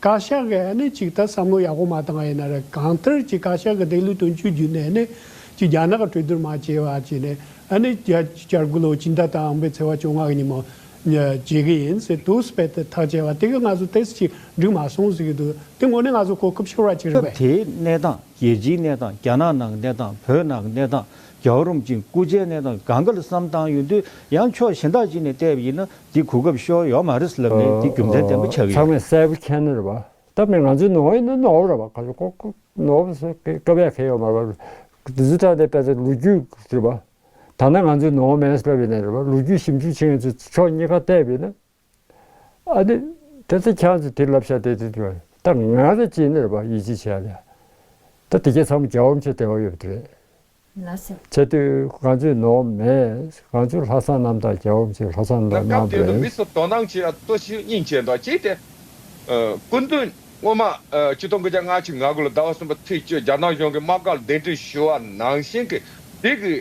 བཀའ་ཤག་གི་ཨ་ནེ་ཅིག་ད་བསམ་བློ་ཡག་པོ་མ་བཏང་བ་ཡིན་ན་རེད་གང་ལྟར་གྱི་བཀའ་ཤག་གི་སྡིག་ལུས་དོན་གཅོད་བརྒྱུད་ནས་ཨ་ནེ་ཅིག་རྒྱ་ནག་གི་གྲོས་བསྡུར་མ་བྱས་བར་གྱི་ནས་ཨ་ནེ་ཅིག་བསྐྱར་བསྐྱར་དགུ་ལོ་གཅིག་མཐའ་དང་ཨང་པའི་ཚེ་བ་བཅོ་ལྔ་གི་ཉིན་མོ་བྱེད་གི་ཡིན་ཟེར་དུས་སྤེལ་ཏེ་ཐག་བཅད་པ་དེ་གི་ང་ཚོ་ཏེས་ཅིག་འགྲིག་མ་སོང་ཟེར་གྱི་འདུག་དེ་ངོ་ནས་ང་ཚོ་གོ་སྐབས་ཤོར་བ་ཅིག་རེད་སྐབས་པས། དེའི་གནས་སྟངས་རྒྱལ་སྤྱིའི་གནས་སྟངས་རྒྱ་ནག་ནང་གི་གནས་སྟངས་བོད་ནང་གི་གནས་སྟངས་རྒྱ་བོད་རུམ་ཅིང་སྐུ་ཚེའི་གནས་སྟངས་གང་ག་ལ་བསམ་བཏང་ཡོད་དུས་ཡང་ཕྱོགས་གཞན་དག་ཅིག་ནས་བལྟས་པ་ཡིན་ན་འདི་གོ་སྐབས་ཤོར་ཡོག་མ་རེད་ཟེར་ལབ་ནས་འདི་རྒྱུ་མཚན་བདེན་པོ་ཆགས་ཀྱི་ཡོད། ཚང་མས་གསལ་པོ་མཁྱེན་ནོར་བ། ད་མི་ང་ཚོའི་ནོར་བ་ཡིན་ན་ནོར་བ་རེད་བ་ག་ཚོད་ཀོ་ཀོ་ནོར་བ་སོ་ཀེ་ཀ་བས་ཁེ་ཡོག་མ་རེད་བ། དེ་ཚོ་ཏྲག་ཏའི་དཔེ་ཚོ་ལོ་རྒྱུས་རེད་བ། ད་ནི་ང་ཚོའི་ནོར་བ་མེད་ཟེར་བ་ཡིན་ནི་རེད་བ་ལོ་རྒྱུས་ཞིབ་འཇུག་བྱེད་མཁན་ཚོས་ཕྱོགས་གཉིས་ཀ་བལྟས་པས་ན། ཨ་ནི། དེ་ཚོ་ཁྱེད་ཚོས་དེ་ལབ་ཤ་དེ་དེ་དེ་བ། ད་ང་རེད་ཅེས་ནི་རེད་བ་ཡིད་ཆེས་བྱས་ལ། ད་དེ་ཁྱེད་ཚང་མ་རྒྱ་བོམ་ཆེ་དེ་བ་ཡོད་པ་དེ་རེད། ཚེ་སྟོད་གངས་མཚོའི་ནོར་བུ་མེད། གངས་མཚོའི་ལྷ་བསང་རྣམ་དག་བྱའོ་ཞེས་ལྷ་བསང་རྣམ་སྐབས་དེ་དུ་མི་དང། སུ་དོ་སྣང་བྱེད་ཡང་ལྟོས་ཤིག་སྙིང་རྗེས་འདྲ་བྱས་ཏེ། སྐུ་མདུན་སྔོན་མ་སྤྱི་སྟོང་དགུ་བརྒྱ་ང་ཚིག་ང་དགུ་ལོ་ཟླ་བ་གསུམ་པ་ཚེས་བཅུ་རྒྱ་ནག་གཞུང་གི་དམག་སྒར་གདན་འདྲེན་ཞུ་བ་ནང་བཞིན་གྱི་སྡིག་གི་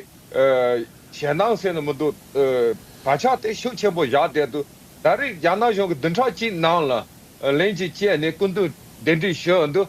ཞེ་སྣང་ཟེར་ནི་མི་འདུག་ག་ཕྱག་དེ་ཤུགས་ཆེན་པོ་བཞག་བསྡད་འདུག་ད་རེས་རྒྱ་ནག་གཞུང་གི་བདུན་ཕྲག་གཅིག་ནང་ལ་ལན་གཅིག་བཅད་ནས་སྐུ་མདུན་གདན་འདྲེན་ཞུ་འདུག།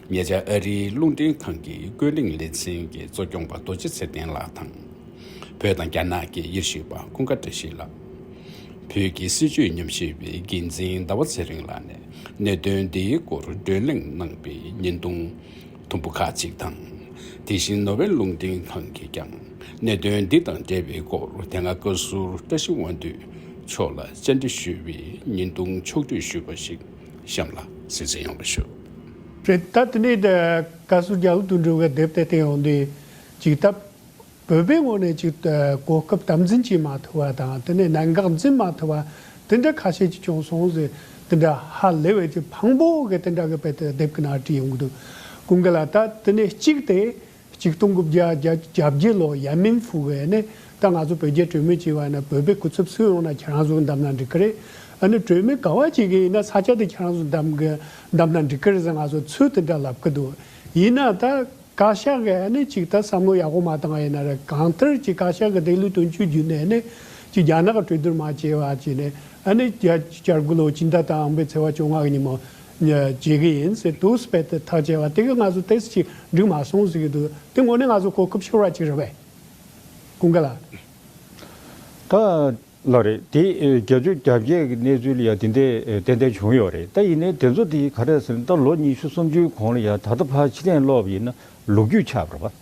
ཉེ་ཆར་ཨ་རིའི་རླུང་འཕྲིན་ཁང་གི་ཀོས་ལིང་ལེ་ཚན་གྱི་གཙོ་སྐྱོང་པ་རྡོ་རྗེ་ཚེ་བརྟན་ལགས་དང། བོད་དང་རྒྱ་ནག་གི་ཡེ་ཤུ་པ་ཀུན་དགའ་བཀྲ་ཤིས་ལགས། བོད་ཀྱི་སྲིད་བྱུས་ཉམས་ཞིབ་པའི་འགན་འཛིན་ཟླ་བ་ཚེ་རིང་ལགས་ནས་གནད་དོན་འདིའི་སྐོར་བགྲོས་གླེང་གནང་པའི་བརྙན་ཐུང་དུམ་བུ་ཁག་ཅིག་དང། དེ་བཞིན་ནོ་བྷེལ་རླུང་འཕྲིན་ཁང་གིས་ཀྱང་གནད་དོན་འདི་དང་འབྲེལ་བའི་སྐོར་དེ་སྔ་བཀའ་ཟུར་བཀྲ་ཤིས་དབང་འདུས་མཆོག་ལ་བཅར་འདྲི་ཞུས་པའི་བརྙན་ཐུང་ཕྱོགས་བསྡུས་ཞུས་པ་ཞིག་གཤམ་ལ་གསན་གསན་ཡོང་བ་ཞུ། རེད་ད་དེ་ནས་བཀའ་ཟུར་རྒྱ་ལུགས་དུ་འགྲོ་བའི་དེབ་དེ་བསྟན་ཡོང་དུས་ཅིག་ད་བོད་པའི་ངོས་ནས་ཅིག་གོ་སྐབས་དམ་འཛིན་བྱེད་མ་ཐུབ་པ་དང་དེ་ནས་གནད་འགག་འཛིན་མ་ཐུབ་པ་དེ་འདྲ་ཁ་ཤས་ཅིག་བྱུང་སོང་ཟེར་དེ་འདྲ་ཧ་ལས་བས་ཅིག་ཕང་པོ་གི་དེ་འདྲ་གི་དཔེ་དེ་དེབ་གི་ནང་བྲིས་ཡོང་གི་འདུག་ཀུན་དགའ་ལགས་ད་དེ་ནས་གཅིག་དེ་གཅིག་སྟོང་དགུ་བརྒྱ་གྱ་བརྒྱད་ལོར་ཡན་མིན་ཧྥུའུ་ཝེ་ནས་ད་ང་ཚོ་བོད་རྒྱའི་གྲོས་མོལ་བྱེད་པ་ཡིན་ན་བོད་པའི་སྐུ་ཚབ་སུ་ཡོང་ན་ཁྱེད་རང་ཚོ་འདམ་ན་འགྲིག་གི་རེད། ཨ་ནི་གྲོས་མོལ་ག་བ་བྱེད་མཁན་ཡིན་ན་ས་ཆ་དེ་ཁྱེད་རང་ཚོ་འདམ་གི་འདམ་ན་འགྲིག་གི་རེད་ཟེར་ང་ཚོ་ཚུལ་དེ་འདྲ་ལབ་གི་འདུག་ཡིན་ན་ད་བཀའ་ཤག་གིས་ཨ་ནི་གཅིག་ད་བསམ་བློ་ཡག་པོ་མ་བཏང་བ་ཡིན་ན་རེད་གང་ལྟར་གྱི་བཀའ་ཤག་གི་དེ་ལུགས་དོན་གཅོད་རྒྱུ་ནས་ནི་གཅིག་རྒྱ་ནག་གི་གྲོས་བསྡུར་མ་བྱས་པ་བྱས་ནས་ཨ་ནི་བརྒྱ་བཅར་དགུ་ལོ་གཅིག་ཟླ་དང་ཨང་པའི་ཚེ་བ་བཅོ་ལྔ་གི་ཉིན་མོ། བྱེད་ཀྱི་ཡིན། དུ་སྤེལ་ཏེ་ཐག་བཅད་པ་དེ་ག་ང་ཚོ་དེ་སྲིད་ཅིག་འགྲིག་མ་སོང་ཟེར་གྱི་འདུག་དེ་ངོ་ནས་ང་ཚོ་གོ་སྐབས་ཤོར་བ་ཅིག་རེད་པས། ཀུན་དགའ་ལགས། ད་ལགས་རེད་དེ་རྒྱལ་སྤྱོད་རྒྱ་བསྐྱེད་ཀྱི་གནས་ཚུལ་ཡང་དེ་འདྲའི་ཏན་ཏན་བྱུང་ཡོད་རེད་ད་ཡིན་ནའི་དེ་ཚོ་དེ་ག་རེད་ཟེར་ན་ད་ལོ་ཉི་ཤུ་སུམ་ཅུའི་གོང་ལ་ཡང་ད་ལྟ་ཕར་ཕྱི་གཏན་སློག་པ་ཡིན་ན་ལོ་རྒྱུས་ཆགས་པར་བ། བྱས་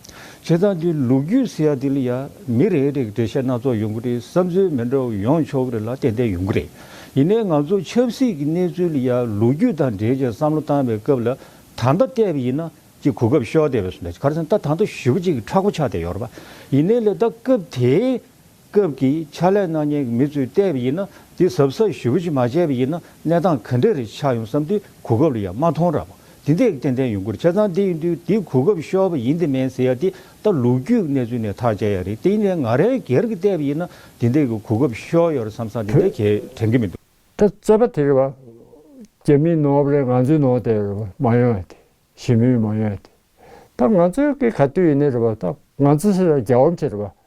ཙང་འདི་ལོ་རྒྱུས་ཟེར་ཡ་འདི་ལ་ཡ། མི་རེ་རེ་གི་འགྲེལ་བཤད་སྣ་ཚོགས་ཡོང་གི་རེད་བསམ་ཚུལ་མི་འདྲ་བ་ཡོང་ཆོག་གི་རེད་ལ་ཏན་ཏན་ཡོང་གི་རེད། ཡིན་ནའི་ང་ཚོ་ཆབ་སྲིད་ཀྱི་གནས་ཚུལ་ལ་ཡ་ལོ་རྒྱུས་དང་འབྲེལ་ཅིང་བསམ་བློ་བཏང་བའི་སྐབས་ལ་ད་ལྟ་བལྟས་པ་ཡིན་ན་ཅིག་གོ་སྐབས་ཤོར་བསྡད་པས་སོ་ན་ཅིག་ག་རེ་ཟེར་ན་ད་ད་ལྟ་ཞུ་བ་ཅིག་གི་ཕྲག་གོ་ཆགས་བསྡད་ཡོད་རེད་པ། ཡིན་ནའི་ལེ་ད་སྐབས་དེའི་སྐབས་ཀྱི་ཕྱག་ལས་གནང་མཁན་གྱི་མི་ཚོས་བལྟས་པ་ཡིན་ན་འདི་ཟབ་ས་ཞུ་བྱེད་མ་བྱས་པ་ཡིན་ན་གནས་སྟངས་ག་འདྲ་རེ་ཆགས་ཡོང་བསམ་དུས་གོ་སྐབས་ལ་ཡང་མ་མཐོང་ར་བ་འདི་འདེགས་ཏན་ཏན་ཡོང་ཁུལ་བྱས་ཙང་འདི་ཡིན་དུས་འདི་གོ་སྐབས་ཤོར་བ་ཡིན་དེ་མིན་ཟེར་ཡ་འདི་ལྟ་ལུགས་རྒྱུས་གནས་ཚུལ་ནས་ཐག་བཅད་ཡ་རེད་དེ་ཡིན་ནའི་ང་རེ་འགལ་གྱི་བལྟས་པ་ཡིན་ན་འདི་འདེགས་ཀྱི་གོ་སྐབས་ཤོར་ཡོད་ར་བསམ་ཙང་འདི་འདེགས་བྱེད་དྲན་གྱི་མི་འདུག། ད་རྩོད་པ་དེ་རེད་བ། རྒྱ་མིའི་ནོར་བ་རེད་ང་ཚོའི་ནོར་དེ་རེད་བ་མ་ཡོང་ཡ་དེ་ཞི་མོལ་མ་ཡོང་ཡ་དེ། ད་ང་ཚོའི་གི་ག་དུས་ཡིན་ནའི་རེད་བ་ད་ང་ཚོ་སེ་ར་རྒྱ་བམ་ཆེ་རེད་བ་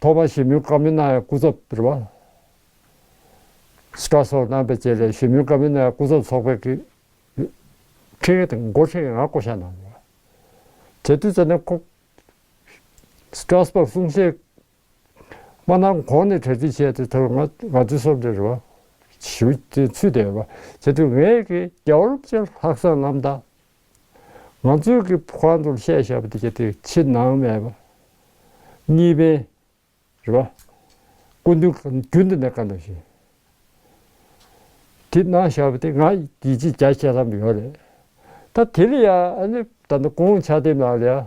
ཐོག་མར་ཞི་མོལ་ཀ་མི་ནའི་སྐུ་ཚབ་རེད་པ། སི་ཏྲ་སོགས་གནང་པའི་རྗེས་ལས་ཞི་མོལ་ཀ་མི་ནའི་སྐུ་ཚབ་ཚོགས་པའི་འཕྲིན་ཡིག་དང་མགོ་འཕྲེད་ཀྱི་ངང་བསྐོ་བཞག་གནང་ཡོད་པ་རེད། དུས་ཚོད་ནི་ཁོ། སི་ཏྲ་སྤོར་གསུང་བཤད་མ་གནང་གོང་ནས་གྲ་སྒྲིག་བྱས་ཏེ་ཐོག་མར་ང་ཚོའི་སོབ་འདྲེ་རེད་པ། ཞི་བ་དེ་ཚུད་བསྡད་ཡོད་པ། དེ་དུས་ངས་ཀྱི་རྒྱ་བོད་ཀྱི་ལྷག་བསམ་རྣམ་དག་ང་ཚོས་ཀྱི་ཕོ་ཁང་དུ་ཤེས་བྱ་བདེ་བྱ་དེ་ཕྱི་ནང་མེད་པ། གཉིས་ཕན། རེད་པ། ཀུན་དུ་རྒྱུན་དུ་གནས་ཀ་འདུག་བཞིན། དེ་ནང་བྱ་བ་དེ་ང་ཡིས་ཅི་བྱ་བྱེད་བསམ་ཡོད་རེད། ད་དེ་ལ་ཡང་ཨ་ནི་ད་ནི་གོང་ཆ་དེ་ནང་ལ་ཡང་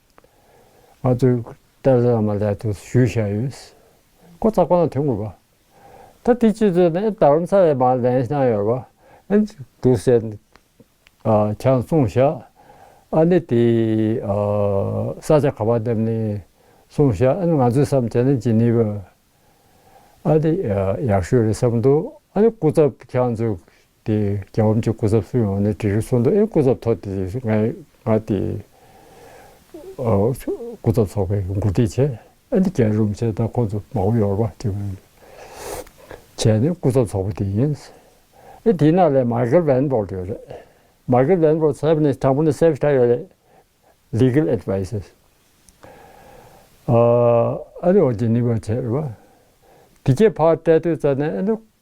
ང་ཚོས་བཀྲ་ཟེར་ལ་མ་ལྷའི་དུས་སུ་ཞུས་བཞག་ཡོད། ཁོ་ཚ་གོ་ན་དོན་དགོས་པ། ད་དེ་ཅི་ཚོད་ནས་ད་རུང་ཚ་བའི་མར་ལན་བཞག་ཡོད་པ། དུས་ཟད་ནས་ཆང་བསྲུང་བཞག་ཨ་ནི་དེ་ས་ཆ་ག་པར་འདེབས་ནས་བསྲུང་བཞག་ང་ཚོས་བསམ་བྱས་ན་ཇི་ནུས་པ་ཨ་ནི་ཡག་ཤོས་རེད་བསམ་འདུག་ཨ་ནི་སྐུ་ཚབ་ཁྱང་ཚོས་དེ་རྒྱ་བམ་གྱི་སྐུ་ཚབ་སུ་ཡོང་ནས་དྲི་རིས་གསོལ་འདུག་ཨེ་སྐུ་ཚབ་ཐོག་དེ་ང་ང་དེ། སྐུ་ཚབ་ཚོགས་པའི་མགོ་ཁྲིད་བྱས་ཨེ་འདི་རྒྱལ་རོམ་བྱས་ད་ཁོང་ཚོ་མ་བོ་ཡོར་བ་དེ་བོ། བྱས་ནས་སྐུ་ཚབ་ཚོགས་པ་དེ་ཡིན། ཨེ་དེ་ནག་ལས་མཱ་ཀེལ་བན་བོར་ཡོད་རེད། མཱ་ཀེལ་བན་བོར་ཚབ་ནས་དང་པོ་ནས་སེབས་ཁྲ་ཡོད་རེད། Legal Advices། ཨ་ཨ་ནི་འོ་དེ་ནི་བ་བྱས་རེད་བ། དེ་ཁྱེད་ཕ་བཀྲས་སྟོད་རྩ་ནས་ཨེ་ནི་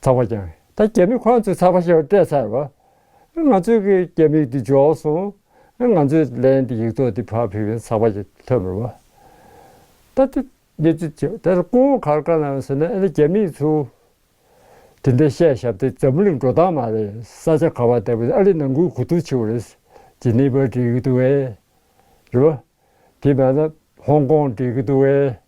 ཚགས་པར་བྱང། ད་རྒྱ་མི་ཁོ་ཚོས་ཚགས་པར་བྱང་སྤྲད་ཚར་བ། ང་ཚོས་གི་རྒྱ་མིག་དེ་འཇོག་སོང། ང་ཚོས་ལན་དེ་ཡིག་ཐོག་དེ་ཕར་ཕེབས་ཡོང་ཚགས་པར་བྱང་ཐོན་པར་བ། ད་དེ་གནས་ཚུལ་དེ་ད་ལྟ་ཀོའོ་གར་དཀའ་ནའང་ཟེར་ན་ཨ་ནི་རྒྱ་མིས་ཚོ། དེ་འདྲ་བཤད་ཞབས་དེ་འཛམ་བུ་གླིང་འགྲོ་སྟངས་མ་རེད་ས་ཆ་ག་བ་ལྟ་བུ་ཨ་རི་ནང་ཁུལ་གོ་ཐུག་ཆེ་བོ་རེད། ཇི་ནི་པར་འགྲིག་གི་འདུག་བས། རེད་བ། དེ་མ་ན་ཧོང་ཀོང་འགྲིག་གི་འདུག་བས།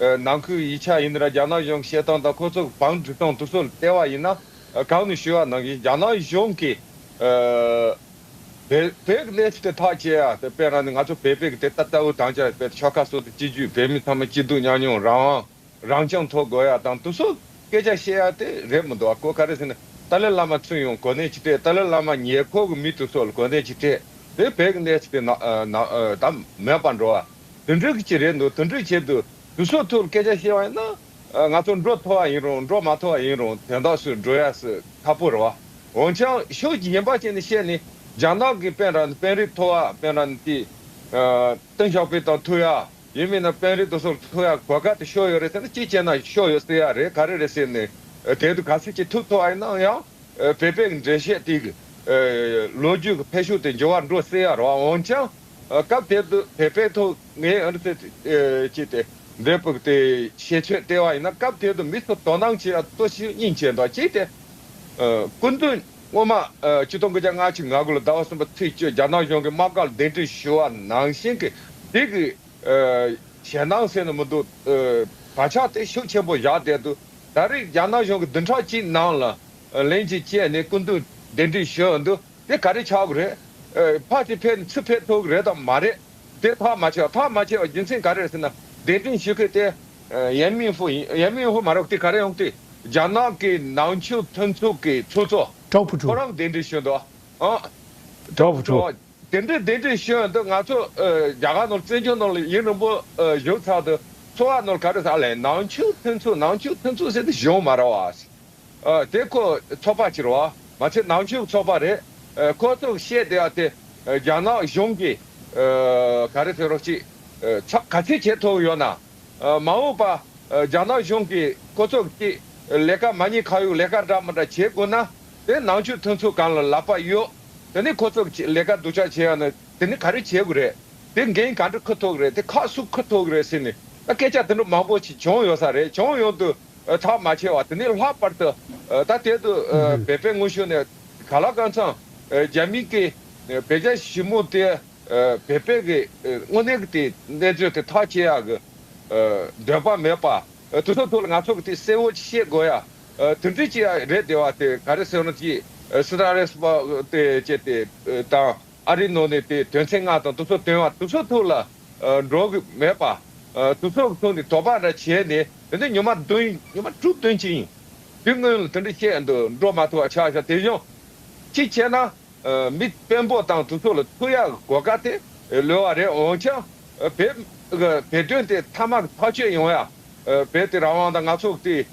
ནང་ཁུལ་ཡིག་ཆ་ཡིན། རྒྱ་ནག་གཞུང་བཤད་སྟངས་དང་ཁོ་ཚོ་བང་སྒྲིག་སྟངས་དུ་སོགས་ལྟེ་བ་ཡིན། གང་ནས་ཞུ་བ་ནང་བཞིན་རྒྱ་ནག་གཞུང་གི་བེག་ལེབ་དེ་དག་བཅས་ཡ་དེ་དཔེར་ན་ནི་ང་ཚོ་བེ་བེག་དེ་ལྟ་ལྟ་བུ་དང་བཅས་བེ་ཆོལ་ཁ་སོགས་དེ་སྤྱི་རྒྱུད་བེ་མི་ཚང་མ་སྐྱིད་སྡུག་མཉམ་མྱོང་རང་དབང་རང་སྐྱོང་ཐོག་དགོས་ཡ་དང་དུ་སོགས་སྐད་ཆ་བཤད་ཡ་དེ་རེད་མི་འདུག་བ་ཀོ་ག་རེ་ཟེར་ནས་ཏཱ་ལའི་བླ་མ་ཚུར་ཡོང་གོ་གནས་ཅི་སྤྲད་ཏཱ་ལའི་བླ་མ་ཉེ་འཁོར་གི་མི་དུ་སོགས་ལ་གོ་གནས་ཅི་སྤྲད་དེ་བེག་ལེབ་དེ་ནང་ད་མེད་པར་འགྲོ་བ། དུད་འགྲོའི་གི་ཅི་རེད་འདུག་དུད་འགྲོའི་ཆེད་དུ་དུད་སོགས་ཐུགས་ལ་སྐད་ཆ་བཤད་བ་ཡིན་ན། ང་ཚོ་འགྲོ་ཐོ་བ་ཡིན་རུང་འགྲོ་མ་ཐོ་བ་ཡིན་རུང་དོན་དག་སུ་འགྲོ་ཡ་སུ་ཁ་པོ་རེད་བ། འོན་ཀྱང་ཤོག་ཅིག་ཉན་པ་ཅན་ནས་བཤད་ནི། རྒྱ་ནག་གི་དཔོན་ར་དཔོན་རིགས་ཐོ་བ་དཔོན་ར་ནི་དེ། ཏིང་ཞའོ་པེ་དང་ཐུག་ཡ། ཡིན་མིན་ན་དཔོན་རིགས་དུ་སོགས་ཐུག་ཡ་གོ་ག་དུ་ཤོག་ཡོད་རེད་ཟེར་ན་ཅི་བྱས་ན་ཤོག་ཡོད་སེ་ཡ་རེད་ག་རེ་རེད་ཟེར་ནི། དེ་དུ་ག་སུ་ཅིག་ཐུག་ཐོ་བ་ཡིན་ན་ཡང། བོད་པའི་གི་འགྲེལ་བཤད་དེ་གི། ལོ་རྒྱུས་གི་འཕེལ་ཤུགས་དེ་འགྱུར་བ་འགྲོ་སེ་ཡ་རེད་བ་འོན་ཀྱང། སྐབས་དེར་དུ་བས་པའི་ཐོག་ངའི་ཨིར་ཚེ་ཅི་སྟེ་འབྲས་བུག་དེ་ཞེས་ཆོས་སྟེར་བ་ཡིན་ན་སྐབས་དེར་དུ་མི་སུ་དོ་སྣང་བྱེད་ཡ་གཙོ་ཤིའི་སྙིང་བཅས་འདོགས་ཅི་སྟེ། སྐུ་མདུན་སྔོན་མ་སྤྱི་སྟོང་དགུ་བརྒྱ་ང་གཅིག་ང་དགུ་ལོ་ཟླ་བ་གསུམ་པ་ཚེས་བཅུ་རྒྱ་ནག་གཞུང་གི་དམག་སྒར་གདན་ཁྲི་ཞུ་བ་ནང་བཞིན་གྱི་སྡིག་གི་ཞེ་སྣང་སེལ་ནི་མི་འདུག་ད་ཆ་དེ་ཤུགས་ཆེན་པོ་བཞག་བསྡད་འདུག་ད་རེས་རྒྱ་ནག་གཞུང་གི་བདུན་ཕྲག་གཅིག་ནང་ལ་ལན་གཅིག་བཅད་ནས་སྐུ་མདུན་གདན་ཁྲི་ཞུ་འདུག་དེ་ག་རེ་ཆགས་གི་རེད། ཕ་དེ་ཕན་ཚུན་ཕན་ཐོག་གི་རེད་དམ་མ་རེད། དེ་ཐག་མ་ཆོད་ཐག་མ་ཆད་པ་རྒྱུ་མཚན་ག་རེ་རེད་ཟེར་ན། གདན་དྲིན་ཞུ་མཁན་དེ། ཡན་མིན་ཧྥུ་ཡིན། ཡན་མིན་ཧྥུ་མ་རེད་དེ་ག་རེ་ཡོང་དེ། རྒྱ་ནག་གི་ནང་ཆོས་མཐུན་ཚོགས་ཀྱི་ཚོགས་གཙོ། ཀྲའོ་ཕུ་ཁོ་ཁྲོ། རང་གདན་དྲིན་ཞུ་འདུག་ཨ། ཀྲའོ་ཕུ་ཁྲོ། དེ་འདྲའི་གདན་དྲིན་ཞུ་ཡོང་དུས་ང་ཚོ་རྒྱ་གར་ནང་བཙན་བྱོལ་ནང་ཡུན་རིང་པོ་བཞུགས་ཚར་དུས་འཚོ་བ་ནང་ག་རེ་ཟ་ལེ། ནང་ཆོས་མཐུན་ཚོགས་ནང་ཆོས་མཐུན་ཚོགས་ཟེར་དུ་གཞུང་མ་ར་བ། དེ་ཁོ་ཚོགས་པ་ཕྱིར་བ་མ་ཚད་ནང་ཆོས་ཚོགས་པ་རེད། ཁོ་ཚོས་བཤད་བསྡད་པ་དེ་རྒྱ་ནག་གཞུང་གིས་ག་རེ་ཟེར་རོགས་གཅིག་ཚགས་ག་ཚིག་བྱས་ཐུབ་ཡོད་ན། མ་འོངས་པ་རྒྱ་ནག་གཞུང་གིས་ཁོ་ཚོ་གཅིག་ལས་ཀ་མ་གཉིས་ཁ་ཡོག་ལས་ཀ་འདྲ་མ་འདྲ་བྱེད་དགོས་ན། དེ་ནང་ཆོས་མཐུན་ཚོགས་གང་ལ་ལབ་པ་ཡོད། དེ་ནས་ཁོ་ཚོ་གཅིག་ལས་ཀ་སྡུག་ཅག་བྱེད་ཡོད་ན་དེ་ནས་ག་རེ་བྱེད་དགོས་རེད། དེ་འགན་ག་འདྲ་ཁུར་ཐུབ་རེད་དེ་ཁག་སུ་ཁུར་ཐུབ་རེད་ཟེར་ནས་ད་སྐད་ཆ་དེ་འདྲ་མང་པོ་ཞིག་བྱུང་ཡོད་ས་རེད་བྱུང་ཡོང་དུས། ཐག་མ་ཆད་བར་དུ་ནི་ལྷག་པར་དུ། ད་ལྟའི་དུ་བས་པའི་སྔོན་བྱོན་ནས། ག་ལ་ཀང་ཚང་རྒྱ་མིའི་ཀི། བས་རྒྱ་ཞིབ་མོ་དེ་བས་པའི་གི། དངོས་གནས་ཀི་དེ་གནས་ཚོད་དེ་ཐག་བཅད་ཡག་གི། འདོད་པ་མེད་པ་དུ་ཚོད་ཐུག་ལ་ང་ཚོ་གི་དེ་གསལ་བོ་ཤེས་དགོས་ཡ། དུ་འདྲི་ཅི་ཡ་རེད་དེ་བ་དེ་ག་རེ་ཟེར་ན་ཅི། སི་ར་རེས་པ་དེ་བཅད་དེ་དང་ཨ་རི་ནོ་ནས་དེ་དོན་ཚན་ལྔ་དང་དུ་ཚོད་དོན་བ་དུ་ཚོད་ཐུག་ལ། འགྲོ་གི་མེད་པ། དུག་སོགས་ཚོགས་ནི་དོགས་པ་འདྲ་བྱས་ནས་དེ་འདྲ་ཉོན་མ་བདུན། ཉོན་མ་དྲུག་བདུན་བྱས་ཡིན། དེ་སྔོན་ལ་དེ་འདྲ་བཤད་འདུག་འགྲོ་མ་ཐུ་བ་ཆགས་ཤ་དེ་གཞོང། གཅིག་བྱས་ན། མི་དཔོན་པོ་དང་དུག་སོགས་ལ་ཐུག་ཡག་གི་གོ་སྐ་དེ་ལོས་བ་རེད་འོང་ཆ། བེ། བེ་དོན་དེ་ཐ་མ་གི་ཐག་ཆོད་ཡོང་ཡ། བེ་དེ་ར་བང་དང་ནག་ཚོགས་དེའི།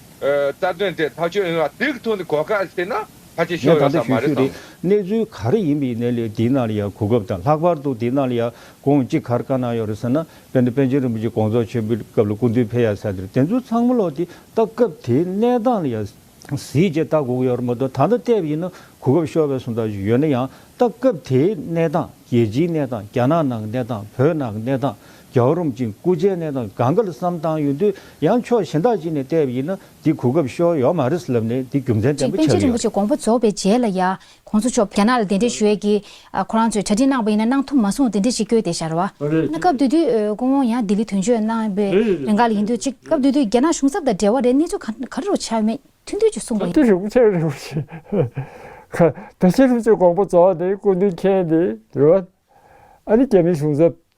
རྩ་དོན་དེ་ཐག་ཆོད་ཡོང་ཡ་དེ་གི་ཐོག་ནས་གོ་སྐ་བྱས་ན། ཁ་ཆེ་ཤོར་ཡོད་ས་མ་རེད་དམ། གནས་ཚུལ་ག་རེ་ཡིན་པའི་གནས་ལས་དེ་ན་ལ་ཡང་གོ་སྐབས་དང་ལྷག་པར་དུ་དེ་ན་ལ་ཡང་གོང་གཅིག་གར་དཀའ་གནང་ཡོད་རེད་ཟེར་ན་དཔེར་ན་པན་ཆེན་རིན་པོ་ཆེ་དགོངས་རྫོགས་ཆེན་པོའི་སྐབས་ལ་སྐུ་མདུན་ཕེབས་ཡ་ས་དེར་དེ་ཚོ་ཚང་མ་ལོག་སྟེ་ད་སྐབས་དེའི་གནས་སྟངས་ལ་ཡང་གཟིགས་རྗེས་ད་གོ་གི་ཡོད་རེད་མ་གཏོགས་ད་ལྟ་བལྟས་པ་ཡིན་ན་གོ་སྐབས་ཤོར་བས་སོང་ད་གཞུག་ཡོད་ན་ཡང་ད་སྐབས་དེའི་གནས་སྟངས་རྒྱལ་སྤྱིའི་གནས་སྟངས་རྒྱ་ནག་ནང་གི་གནས་སྟངས་བོད་ནང་གི་གནས་སྟངས་རྒྱ་བོད་རོམ་གཅིག་སྐུ་ཚེའི་གནས་སྟངས་གང་ག་ལ་བསམ་བཏང་ཡོད་དུས་ཡང་ཕྱོགས་གཞན་དག་ཅིག་ནས་བལྟས་པ་ཡིན་ན་འདི་གོ་སྐབས་ཤོར་ཡོག་མ་རེད་ཟེར་ལབ་ནས་འདི་རྒྱུ་མཚན་བརྟན་གཅིག་པོ་པཎ་ཆེན་ཆགས་རིན་པོ་ཡོད། ཆེ་དགོངས་པ་རྫོགས་པའི་རྗེས་ལ་ཡང ྋགོང་ས་མཆོག་རྒྱ་ནག་ལ་གདན་འདྲེན་ཞུ་ཡས་ཀྱི། ཁོ་རང་ཚོས་གྲ་སྒྲིག་གནང་བ་ཡིན་ན་གནང་ཐུབ་མ་སོང་གདན་འདྲེན་ཞིག་བསྐྱོད་དེ་ཞར་བ། ན་སྐབས་དུས་དུས ྋགོང་བོ་ཡང་ལྡི་ལི་དོན་གཅོད་གནང་བའི་རེ་འགའ་ལ་ཡིན་དུས་གཅིག་སྐབས་དུས་དུས་རྒྱ་ནག་གཞུང་ཚབ་དང་འབྲེལ་བ་རེད་གནས་ཚུལ་ག་རེ་རུ་ཆ་མེད་མཐུན་དུས་ཀྱི་གསུངས་པ་ཡིན། འདི་རིན་པོ་ཆེ་རིན་པོ་ཆེ། པཎ་ཆེན་རིན་པོ་ཆེ་དགོངས་པ་རྫོགས་ནས་སྐུ་མདུན་མཁྱེན་ཏེ་ཟེར་བ། ཨ་ནི་རྒྱ་མིའི་གཞུང་ཚབ་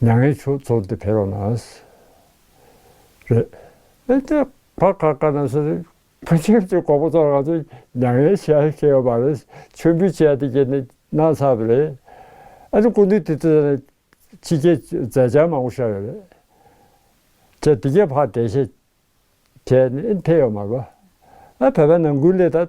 མྱ་ངན་ཆུ་བཙོ་འདི་ཕེར་བ་ན། རེད། ཨེ་ཏེ། བར་ཁ་ཀ་ན་སུ། ཕོ་ཁྱིམ་གྱི་གོག་པོ་ཚོར་ང་ཚོ་མྱ་ངན་བྱས་ཤེས་ཡོད་པ་རེད་མཆོད་འབུལ་བྱས་ཏེ་ཀྱེ་ནི་ན་ཚ་བ་རེད། ཨ་ནི་སྐུ་མདུན་དེ་ཚོ་ནི། ཕྱི་རྒྱལ་མཛད་འཆར་མང་པོ་ཤར་ཡོད་རེད། ཁྱེད་དེ་གའི་ཕར་དེ་ཤེས། ཁྱེད་ནི་ཨེ་འཐད་ཡོད་མ་རེད། ཨ་བོད་པའི་ནང་ཀུན་ལས་ད།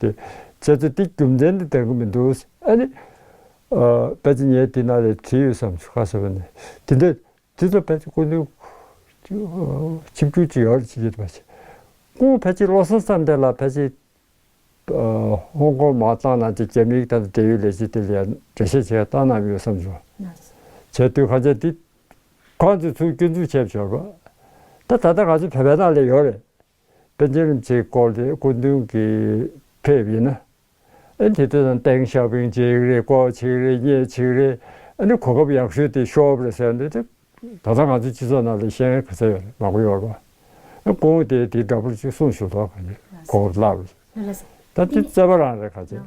དེ། ཁྱེད་ཚོ་དེ་རྒྱུ་མཚན་དུ་བལྟ་གི་མི་འདུག། ཨ་ནི། ཕལ་ཆེར་ངའི་དེ་ནང་ལས་བྲིས་ཡོད་བསམ་ཆོག་ག་ཟེར་བ་ནི། དེ་འདྲ། དེ་ཚོ་ཕལ་ཆེར་སྐུ་མདུན། ཆིབས་སྒྱུར་གྱི་ཡོ་རེ་བྱེད་ཀྱི་རེད་པ་ཞིག། ཁོང་ཕལ་ཆེར་བློ་སེང་ཙམ་དེ་ལ་ཕལ་ཆེར། ཧོང་ཀོང་མའོ་ཙང་ནང་གི་རྒྱ་མིའི་དང་དུ་འབྲེལ་ཡོད་ལས་བྱེད་དེ་ལ་ཡང་འགྲེལ་བཤད་བྱེད་ཡ་ཏང་ནང་ཡོད་བསམ་ཆོག། བྱས་དུས་གང་ཆག་དེ། གང་ཚོས་ཚུར་སྐྱོན་འཛུགས་བྱས་པ་ཆོག་གི། ད་ད་ལྟ་ང་ཚོ་བོད་པའི་ནང་ལས་ཡོ་རེ། པེ་ཅིན་རིམ་བྱེད་སྐོར་གྱི་སྐུ་མདུན་གྱི་ཕེབས་ཡིན་ན། ཨན་ཐི་ཏི་དང་ཏེང་ཞའོ་ཕིང་གཅིག་རེད་ལྐོག་གཅིག་རེད་གཉེན་གཅིག་རེད། ཨ་ནི་གོ་སྐབས་ཡག་ཤོས་དེ་ཤོབ་རེད་ཟེར་འདུག་སྟེ། ད་ལྟ་ང་ཚོའི་སྤྱི་ཚོགས་ནང་ལས་གཞན་ག་ཚད་ཡོད་རེད་མ་གོ་ཡོད་རེད་པ། ཀོང་ཝུ་དེས་དེའི་འདྲ་པར་གཅིག་གསུངས་ཞུ་དོགས་ག་རེད་གོ་སྐབས་བརླག་རེད། ད་དེ་བཙལ་བ་རང་རེད་ག་ཚད།